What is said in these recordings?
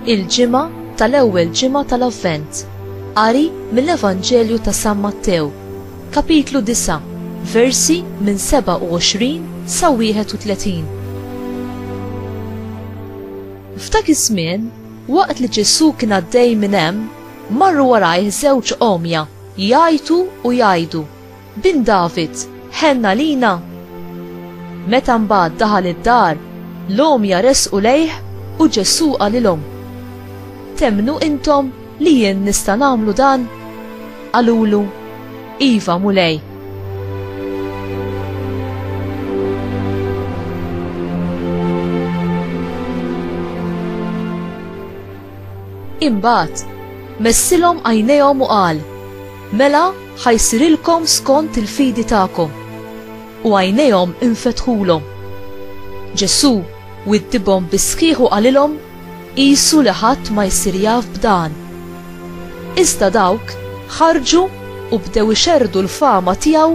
Il-ġimgħa tal-ewwel ġimgħa tal-Avvent. Qari mill-Evanġelju ta' San Mattew, kapitlu 9, versi minn 27 sa 31. F'dak iż-żmien, waqt li Ġesù kien għaddej minn hemm, Marru warajh żewġ għomja, jgħajtu u jgħidu, Bin David, ħenn għalina! Meta mbagħad daħal id-dar, l-għomja resqu lejh u Ġesù qalilhom, Temmnu intom li jien nista' nagħmlu dan? Qalulu, Iva, Mulej. Imbagħad, messilhom għajnejhom u qal, Mela ħa jsirilkom skont il-fidi tagħkom. U għajnejhom infetħulhom. Ġesù widdibhom bis-sħiħ u qalilhom, Qisu li ħadd ma jsir jaf b'dan. Iżda dawk ħarġu u bdew ixerrdu l-fama tiegħu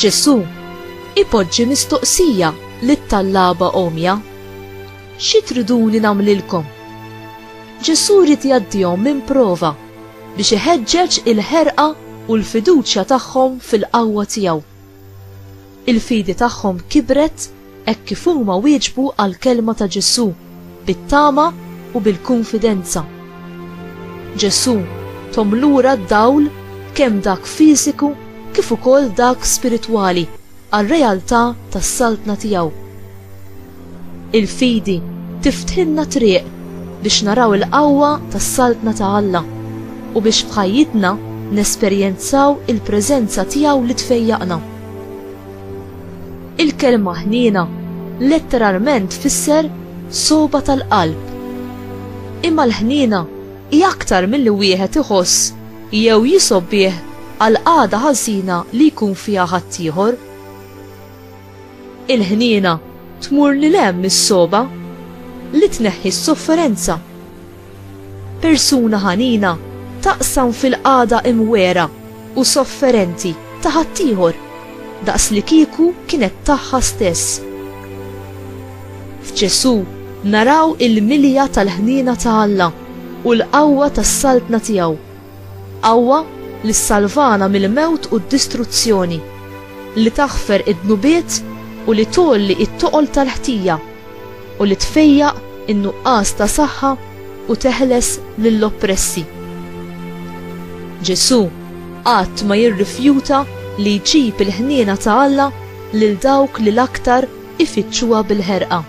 Ġesù ipoġġi mistoqsija lit-tallaba għomja, Xi triduni nagħmlilkom? Ġesù jrid jgħaddihom minn prova biex iħeġġeġ il-ħerqa u l-fiduċja tagħhom fil-qawwa tiegħu. Il-fidi tagħhom kibret hekk kif huma wieġbu għall-kelma ta' Ġesù bit-tama u bil-kunfidenza. Ġesù thom lura d-dawl kemm dak fiżiku kif ukoll dak spiritwali għar-realtà tas-Saltna tiegħu. Il-fidi tiftħilna triq biex naraw il-qawwa tas-Saltna ta' Alla u biex f'ħajjitna nesperjenzaw il-preżenza tiegħu li tfejjaqna. Il-kelma ħniena letteralment tfisser sogħba tal-qalb. Imma l-ħniena hi aktar milli wieħed iħoss jew jisgħob bih għall-qagħda ħażina li jkun fiha ħaddieħor. Il-ħniena tmur lil hemm mis-sogħba, li tneħħi s-sofferenza. Persuna ħanina taqsam fil-qagħda imwegħra u sofferenti ta' ħaddieħor, daqslikieku kienet tagħha stess. F'Ġesù naraw il-milja tal-ħniena ta' Alla u l-qawwa tas-saltna tiegħu. Qawwa li ssalvana mill-mewt u d-distruzzjoni, li taħfer id-dnubiet u li tgħolli it-toqol tal-ħtija, u li tfejjaq in-nuqqas ta' saħħa u teħles lill-oppressi. Ġesù qatt ma jirrifjuta li jġib il-ħniena ta' Alla lil dawk li l-aktar ifittxuha bil-ħerqa.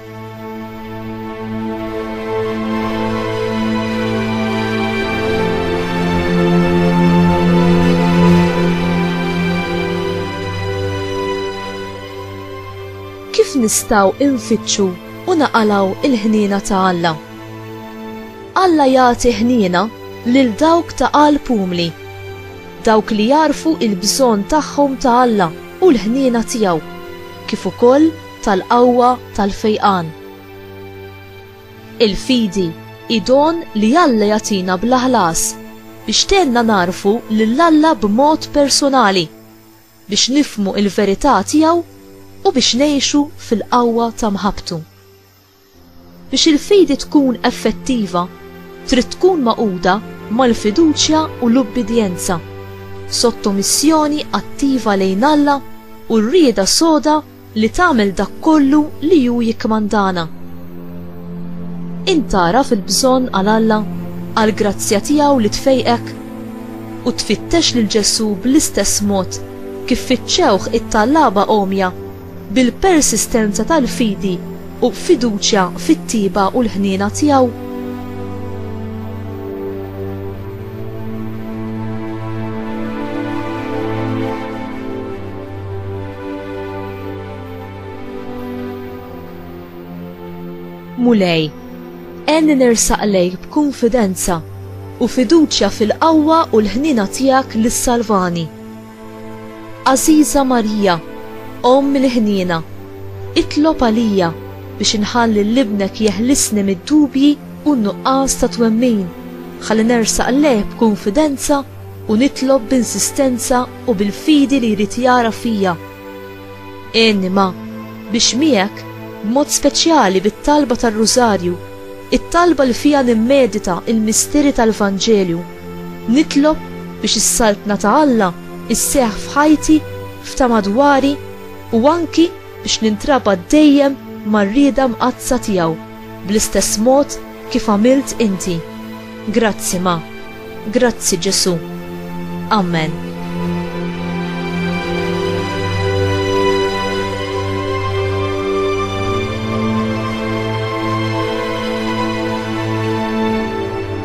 kif nistgħu infittxu u naqalaw il-ħniena ta' Alla. Alla jagħti ħniena lil dawk ta' qalb umli, dawk li jarfu il-bżonn tagħhom ta' Alla u l-ħniena tiegħu. kif ukoll tal-qawwa tal-fejqan. Il-fidi hi don li Alla jagħtina bla ħlas biex tgħinna nagħrfu lil Alla b'mod persunali, biex nifhmu l-verità tiegħu u biex ngħixu fil-qawwa ta' mħabbtu. Biex il-fidi tkun effettiva, trid tkun magħquda mal-fiduċja u l-ubbidjenza, sottomissjoni attiva lejn Alla u r-rieda soda li tagħmel dak kollu li hu jikkmandana. Int tagħraf il-bżonn għal Alla, għall-grazzja tiegħu li tfejqek? U tfittex lil Ġesù bl-istess mod kif fittxewh it-tallaba għomja? bil-persistenza tal-fidi u fiduċja fit-tjieba u l-ħniena tiegħu. Mulej, għenni nersaq lejk b'kunfidenza u fiduċja fil-qawwa u l-ħnina tiegħek li ssalvani. Għażiża Marija, Omm il-ħniena, itlob għalija biex inħalli 'l Ibnek jeħlisni mid-dubji u n-nuqqas ta' twemmin, ħalli nersaq lejh b'kunfidenza u nitlob b'insistenza u bil-fidi li jrid jara fija. Għinni ma, biex miegħek, b'mod speċjali bit-talba tar-Rużarju, it-talba li fiha nimmedita l-misteri tal-Vanġelju, Nitlob biex is-Saltna ta' Alla sseħħ f'ħajti, f'ta' madwari, u anki biex nintrabat dejjem mar-rieda mqaddsa tiegħu, bl-istess mod kif għamilt inti. Grazzi, Ma. Grazzi, Ġesù. Amen.